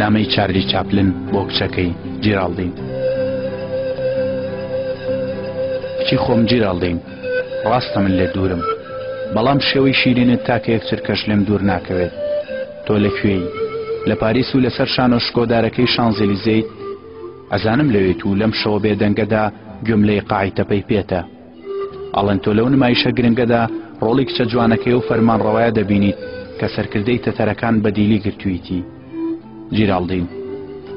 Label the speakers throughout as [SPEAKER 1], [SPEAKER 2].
[SPEAKER 1] نامەی چارلی چاپلن بۆ کچەکەی جیراڵدین کچی خۆم جیراڵدین ڕاستە من لێ دوورم بەڵام شێوەی شیرینت تاکە یەک چرکەش لێم دوور ناکەوێت تۆ لە کوێی لە پاریس و لەسەر شانۆ شکۆدارەکەی شانزیلیزەیت ئەزانم لەوێت و لەم شەوە بێدەنگەدا گوێم لەی قاعی تەپەی پێتە ئەڵێنتۆ لەو نمایشە گرنگەدا ڕۆڵی کچە جوانەکەی و فەرمانڕەوایە دەبینیت کە سەرکردەی تەتەرەکان بە دیلی گرتوویتی جیراڵدین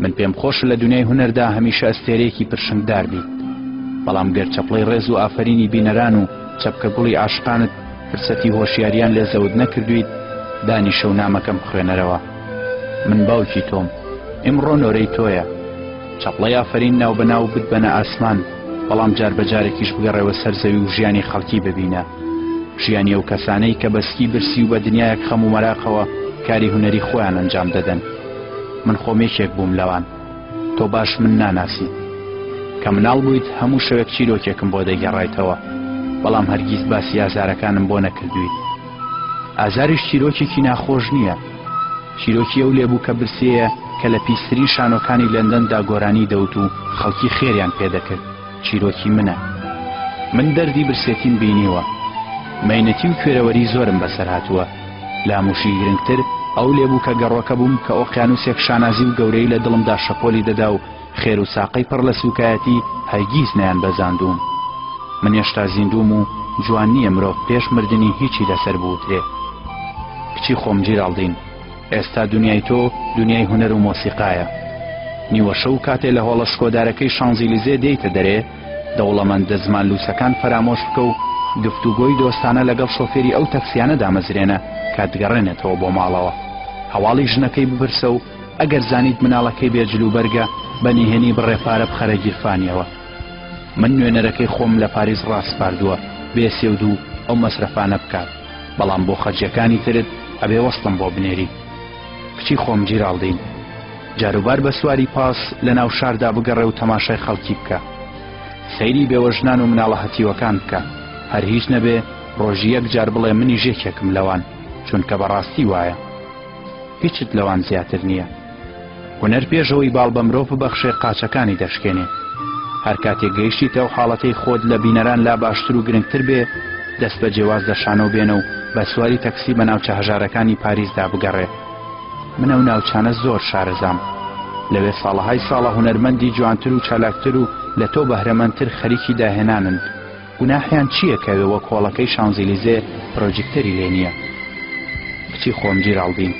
[SPEAKER 1] من پێم خۆش لە دنیای هونەردا هەمیشە ئەستێرەیەکی پرشنگدار بیت بەڵام گەر چەپڵەی ڕێز و ئافرینی بینەران و چەپکە گوڵی ئاشقانت فرسەتی هۆشیاریان لێ زەوت نەکردویت دانی شەو نامەکەم خوێنەرەوە من باوکی تۆم ئیمڕۆ نۆرەی تۆیە چەپڵەی ئافرین ناو بەناو بت بەنە ئاسمان بەڵام جار بە جارێکیش بگەڕێوە سەر زەوی و ژیانی خەڵکی ببینە، ژیانی ئەو کەسانەی کە بە سکی برسی و بە دنیایەک خەم و مەراقەوە کاری هونەری خۆیان ئەنجام دەدەن. من خۆم یەکێک بووم لەوان. تۆ باش من ناناسیت. کە مناڵ بوویت هەموو شەوێک چیرۆکێکم بۆ دەگێڕایتەوە، بەڵام هەرگیز باسی ئازارەکانم بۆ نەکردوویت. ئازاریش چیرۆکێکی ناخۆش نییە، چیرۆکی ئەو لێبووکە برسێیە کە لە پیسترین شانۆکانی لەندەندا گۆرانی دەوت و خەڵکی خێریان پێ دەکرد، چیرۆکی منە. من دەردی برسێتیم بینیوە. مەینەتی و کوێرەوەری زۆرم بەسەر هاتووە. لە هەموو شی گرنگتر ئەو لێبووکە گەڕۆکە بووم کە ئۆقیانووسێک شانازی و گەورەیی لە دڵمدا شەپۆلی دەدا و خێر و ساقەی پڕ لە سووکایەتی هەرگیز نەیانبەزاندووم. من هێشتا زیندووم و جوان نییە مرۆڤ پێش مردنی هیچی لەسەر بوترێ. کچی خۆم جیرالدین، ئێستا دونیای تۆ دونیای هونەر و مۆسیقایە. نیوەشەو کاتێ لە هۆڵە شکۆدارەکەی شانزیلیزێ دێیتە دەرێ، دەوڵەمەندە زمان لووسەکان فەرامۆش بکە و گفتوگۆی دۆستانە لەگەڵ شۆفێری ئەو تەکسیانە دامەزرێنە کە دگەڕێنێتەوە بۆ ماڵەوە. هەواڵی ژنەکەی بپرسە و ئەگەر زانیت مناڵەکەی بێ جل و بەرگە بە نهێنی بڕێ پارە بخەرە گیرفانیەوە من نوێنەرەکەی خۆم لە پاریس ڕاسپاردووە بێ سێ و دوو ئەو مەسرەفانە بکات بەڵام بۆ خەرجیەکانی ترت ئەبێ وەستم بۆ بنێری کچی خۆم جیراڵدین جاروبار بە سواری پاس لە ناو شاردا بگەڕێ و تەماشای خەڵکی بکە سەیری بێوەژنان و مناڵە هەتیوەکان بکە هەر هیچ نەبێ ڕۆژی یەک جار بڵێ منی ژێکێکم لەوان چونکە بەڕاستی وایە هیچت لەوان زیاتر نییە هونەر پێشەوەی باڵ بە مرۆڤ ببەخشێ قاچەکانی دەشکێنێ هەر کاتێک گەیشتیتە ئەو حاڵەتەی خۆت لە بینەران لا باشتر و گرنگتر بێ دەست بە جێواز لە شانۆ بێنە و بە سواری تەکسی بە ناوچە هەژارەکانی پاریسدا بگەڕێ من ئەو ناوچانە زۆر شارەزام لەوێ ساڵەهای ساڵە هونەرمەندی جوانتر و چالاکتر و لە تۆ بەهرەمەندتر خەریکی داهێنانن گوناحیان چیە کە وەک هۆڵەکەی شانزیلیزێ پرۆجیکتەری لێ نیە کچی خۆم جیرالدین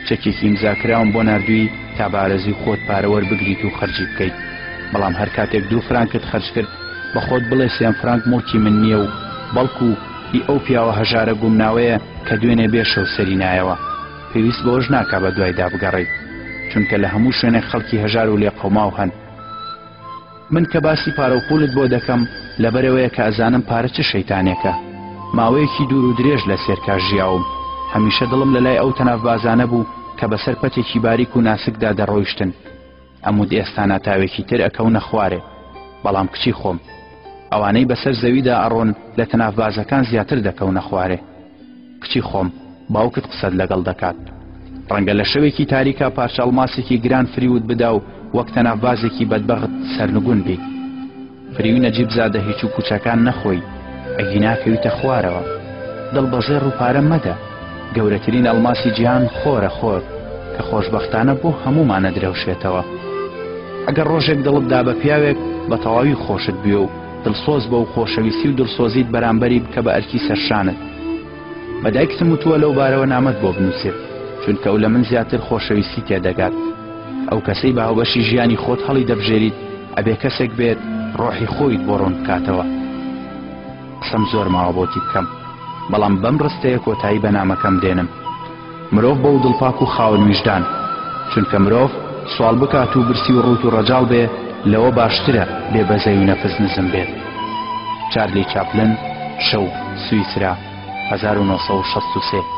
[SPEAKER 1] چەکێکی ئیمزاکراوم بۆ ناردووی تا بە ئارەزوی خۆت پارە وەربگریت و خەرجی بکەیت بەڵام هەر کاتێک دوو فرانکت خەرج کرد بە خۆت بڵێ سێم فرانک موڵکی من نیە و بەڵکو هی ئەو پیاوە هەژارە گومناوەیە کە دوێنێ بێ شەو سەری نایەوە پێویست بەوەش ناکا بە دوایدا بگەڕێیت چونکە لە هەموو شوێنێک خەڵکی هەژار و لێقەوماو هەن. من کە باسی پارە و پوولت بۆ دەکەم لەبەرئەوەیە کە ئەزانم پارە چ شەیتانێکە. ماوەیەکی دوور و درێژ لە سێرکا ژیاوم. هەمیشە دڵم لە لای ئەو تەنافبازانە بوو کە بەسەر پەتێکی باریک و ناسکدا دەڕۆیشتن. ئەموت ئێستا ناتاوێکی تر ئەکەونە خوارێ. بەڵام کچی خۆم. ئەوانەی بەسەر زەویدا ئەڕۆن لە تەنافبازەکان زیاتر دەکەونە خوارێ. کچی خۆم، باوکت قسەت لەگەڵ دەکات. ڕەنگە لە شەوێکی تاریکا پارچە ئەڵماسێکی گران فریوت بدا و وەک تەنافبازێکی بەدبەخت سەرنگون بیت. فریوی نەجیبزادە هیچ و پوچەکان نەخۆی، ئەگینا کەویتە خوارەوە. دڵ بە زێڕ و پارە مەدە. گەورەترین ئەڵماسی جیهان خۆرە خۆر، کە خۆشبەختانە بۆ هەموومان ئەدرەوشێتەوە. ئەگەر ڕۆژێک دڵت دا بە پیاوێک، بە تەواوی خۆشت بوێ و، دڵسۆز بە و خۆشەویستی و دڵسۆزیت بەرامبەری بکە بە ئەرکی سەرشانت. بە دایکتم وتووە لەو بارەوە نامەت بۆ بنووسێت، چونکە ئەو لە من زیاتر خۆشەویستی تێ دەگات. ئەو کەسەی بە هاوبەشی ژیانی خۆت هەڵی دەبژێریت ئەبێ کەسێک بێت ڕۆحی خۆیت بۆ ڕوون بکاتەوە. قسەم زۆر ماوە بۆتی بکەم، بەڵام بەم ڕستەیە کۆتایی بە نامەکەم دێنم. مرۆڤ بەو دڵ پاک و خاوەن ویژدان چونکە مرۆڤ سواڵ بکات و برسی و ڕووت و ڕەجاڵ بێ لەوە باشترە بێ بەزەی و نەفس نزم بێت چارلی چاپلن شەو سویسرا 1963